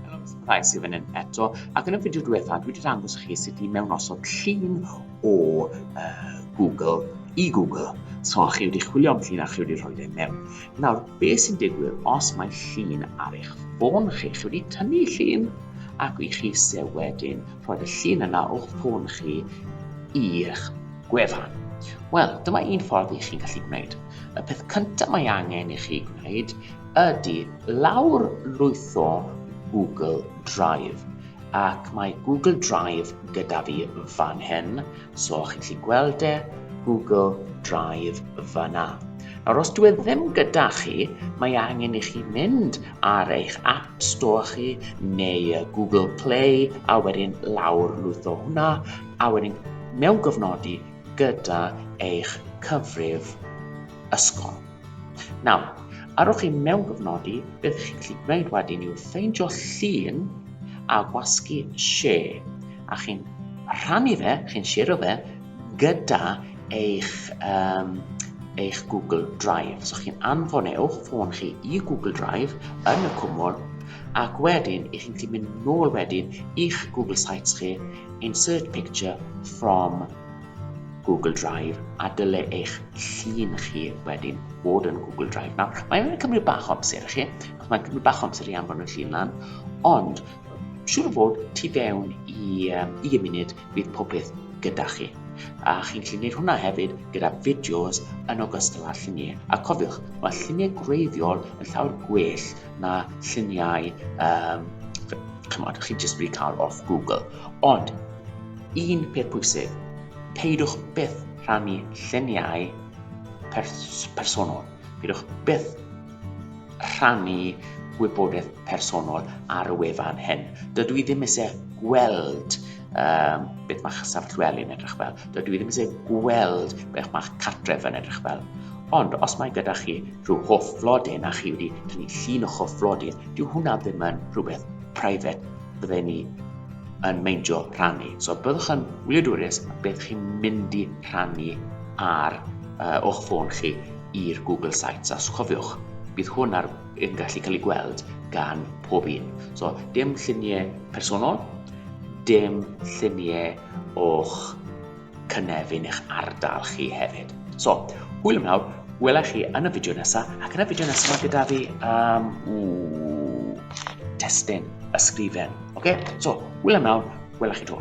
Helo, Mister Price i fyny eto, ac yn y fideo diwetha dwi wedi dangos chi sut i mewn osod llun o uh, Google i Google. So, chi wedi chwilio am llun a chi wedi rhoi ei mewn. Nawr, beth sy'n digwydd os mae llun ar eich ffôn chi? Chi wedi tynnu llun ac i chi se wedyn rhoi y llun yna o'ch ffôn chi i'ch gwefan. Wel, dyma un ffordd i chi'n gallu gwneud. Y peth cyntaf mae angen i chi gwneud ydy lawrlwytho Google Drive ac mae Google Drive gyda fi fan hyn, so chi'n gallu gweld e, Google Drive fyna. Nawr, os dwi e ddim gyda chi, mae angen i chi mynd ar eich App Store chi neu Google Play a wedyn lawr lwytho hwnna a wedyn mewn gofnodi gyda eich cyfrif ysgol. Nawr, arwch i mewn gofnodi beth chi'n gallu gwneud wedyn yw ffeindio llun a gwasgu share, a chi'n rhannu fe, chi'n shero fe gyda eich, um, eich Google Drive. So chi'n anfon e o'ch ffôn chi i Google Drive yn y cwmwl, ac wedyn i chi'n gallu mynd nôl wedyn i'ch Google Sites chi, insert picture from Google Drive a dyle eich llun chi wedyn fod yn Google Drive. Nawr, mae'n cymryd bach o amser i chi, achos mae'n cymryd bach o amser i anfon y llun lan, ond siŵr o fod tu fewn i, um, i y munud bydd popeth gyda chi. A chi'n gallu gwneud hwnna hefyd gyda fideos yn ogystal â lluniau. A cofiwch, mae lluniau gwreiddiol yn llawer gwell na lluniau, um, chymod, chi'n jyst wedi cael off Google. Ond, un peth pwysig, peidiwch byth rhannu lluniau pers personol. Peidiwch byth rhannu gwybodaeth personol ar y wefan hyn. Dydw i ddim eisiau gweld um, beth mae'ch safllweli'n edrych fel. Dydw i ddim eisiau gweld beth mae'ch cartref yn edrych fel. Ond os mae gyda chi rhyw hoff flodyn a chi wedi tynnu llun o'ch hoff flodyn, dyw hwnna ddim yn rhywbeth private bydde ni yn meindio rhannu. So byddwch yn wyliadwriaeth beth chi'n mynd i rhannu ar uh, o'ch ffôn chi i'r Google Sites. A chofiwch, bydd hwn ar, yn gallu cael ei gweld gan pob un. So dim lluniau personol, dim lluniau o'ch cynefin eich ardal chi hefyd. So, hwyl am nawr, wela chi yn y fideo nesaf, ac yn y fideo nesaf mae gyda fi um, ww, testyn, ysgrifen. Oce, okay? so, hwyl am nawr, wela chi to.